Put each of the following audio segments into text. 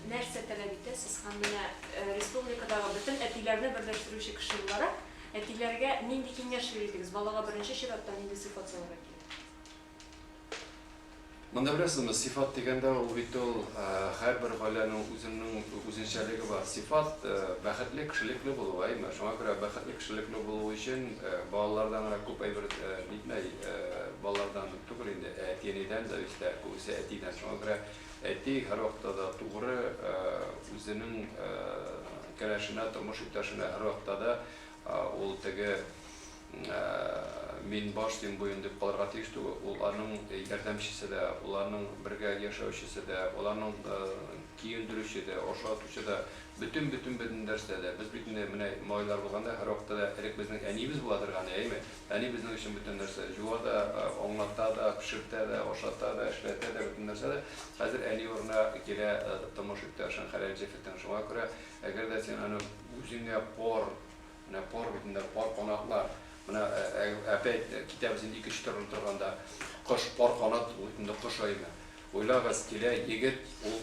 Нәрсә таләп итәсез һәм менә республикадагы бөтен әтиләрне берләштерүче кеше буларак, әтиләргә нинди киңәш бирер идегез? Балага беренче чиратта нинди сыйфат салырга кирәк? Монда беләсезме, сыйфат дигәндә ул бит ул һәрбер гаиләнең үзенең үзенчәлеге бар. Сыйфат бәхетле, кешелекле булу, әйме? Шуңа күрә бәхетле, кешелекле булу өчен балалардан гына күп әйбер нитмәй, балалардан түгел инде, ә әти-әнидән дә өстә, күбесе әтидән. Шуңа күрә Әти һәрвакытта да тугры, үзенең кәләшенә, тормыш иптәшенә һәрвакытта да ул теге мин баш, син буен дип калырга тиеш түгел. Ул аның ярдәмчесе дә, ул аның бергә яшәүчесе дә, ул аның киендерүче дә, ашатучы да, бөтен бөтен бөтен нәрсә дә. Без бит инде менә малайлар булганда һәрвакытта да элек безнең әниебез була торган иде, әйеме? Әни безнең өчен бөтен нәрсә. Җуа да, аңлата да, пешертә дә, ашата да, эшләтә дә, бөтен нәрсә дә. Хәзер әни урынына килә томыш иптәшең хәләл җефетең. Шуңа күрә, әгәр дә син аны үзеңә пар, менә пар бит инде, пар канатлар, менә әпәйт, китәбез инде икенче төрле торганда, кош пар канат, ул бит инде кош аймы. Уйлагыз, килә егет, ул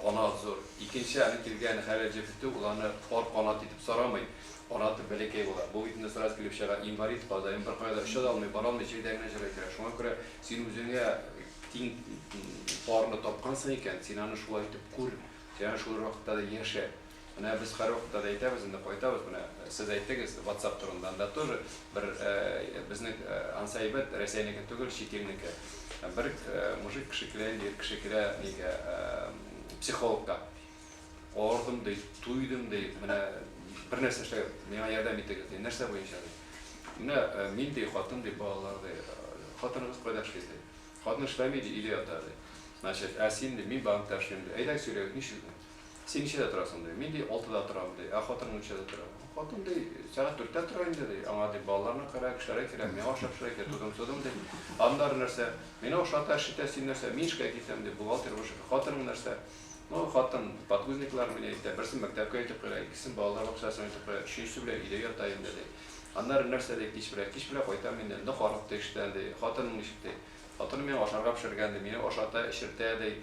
Канат зур. Икенче әле килгән хәләл җефете ул аны пар канат итеп сарамый. Канаты бәләкәй була. Бу бит нәсыйгать килеп чыга, инвалид кадаем, беркая да оча да алмый, бара алмый, җирдә генә җырлый тора. Шуңа күрә син үзеңә тиң парны тапкансың икән, син аны шулай итеп күр, син аны шул рәвештә дә яшә. Менә без һәр вакытта да әйтәбез, инде кайтабыз, менә сез әйттегез ватсап турында, анда тоже бер безнең ансы әйбәт, Рәсәйнеке түгел, чит илнеке. Бер мужик кеше килә инде, ир кеше килә нигә, психологка. Авырдым ди, туйдым ди, менә бер нәрсә эшләгез, миңа ярдәм итегез ди. Нәрсә буенча ди? Менә мин ди, хатын ди, балалар ди. Хатыныгыз кайда эшли ди? Хатыны эшләми ди, өйдә ята ди. Значит, ә син ди, мин банкта эшлим ди. Әйдәгез сөйләгез, ничек ди? Син ничәдә торасың, ди. Мин, ди, алтыда торам, ди. Ә хатының ничәдә тора? Хатын, ди, сәгать дүрттә тора инде, ди. Аңа, ди, балаларны карарга кешеләре килә, миңа ашап пешерә кирәк, тудым-тудым, ди. Аннары нәрсә? Мине ашата, эшитә, син нәрсә? Мин эшкә китәм, ди, бухгалтер булып эшләп. Хатының нәрсә? Ну, хатын, подгузниклар мени әйтә, берсен мәктәпкә илтеп куя, икесен балалар бакчасына илтеп куя, өченчесе белән өйдә ята инде, ди. Аннары нәрсә, ди, кич белән? Кич белән кайтам инде. Нык арык, ди, эштән, ди. Хатының ничек, ди? Хатыным миңа ашарга пешергән, ди, мине ашата, эчертә, ди.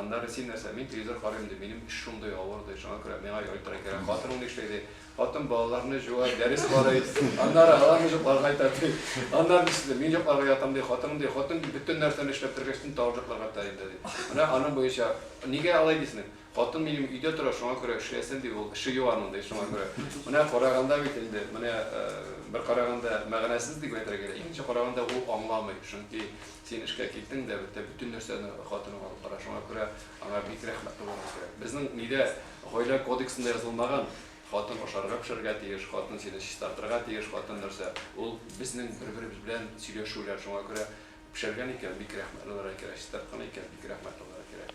Аннары, син нәрсә, мин телевизор карыйм, ди, минем эш шундый авыр, ди, шуңа күрә миңа яйтырак кирәк. Хатының ни эшли, ди? Хатын балаларны җуа, дәрес карый, аннары аларны җокларга әйтә, ди. Аннары нишлисең, ди, мин җокларга ятам, ди, хатының, ди, хатын бөтен нәрсәне эшләп бетергәч, төн тагын җокларга ята инде, ди. Менә аның буенча, нигә алай дисең? Хатын минем өйдә тора, шуңа күрә эшләсен, ди ул, эше юк аның, ди, шуңа күрә. Менә караганда бит инде, менә бер караганда мәгънәсез дип әйтергә кирәк, икенче караганда ул аңламый, чөнки син эшкә киттең дә, бетте, бөтен нәрсәне хатының алып бара, шуңа күрә аңа бик рәхмәтле булырга кирәк. Безнең нидә, гаилә кодексында язылмаган, хатын ашарга пешерергә тиеш, хатын сине чистартырга тиеш, хатын нәрсә, ул безнең бер-беребез белән сөйләшүләр, шуңа күрә пешергән икән, бик рәхмәтле булырга кирәк, чистарткан икән, бик рәхмәтле булырга кирәк.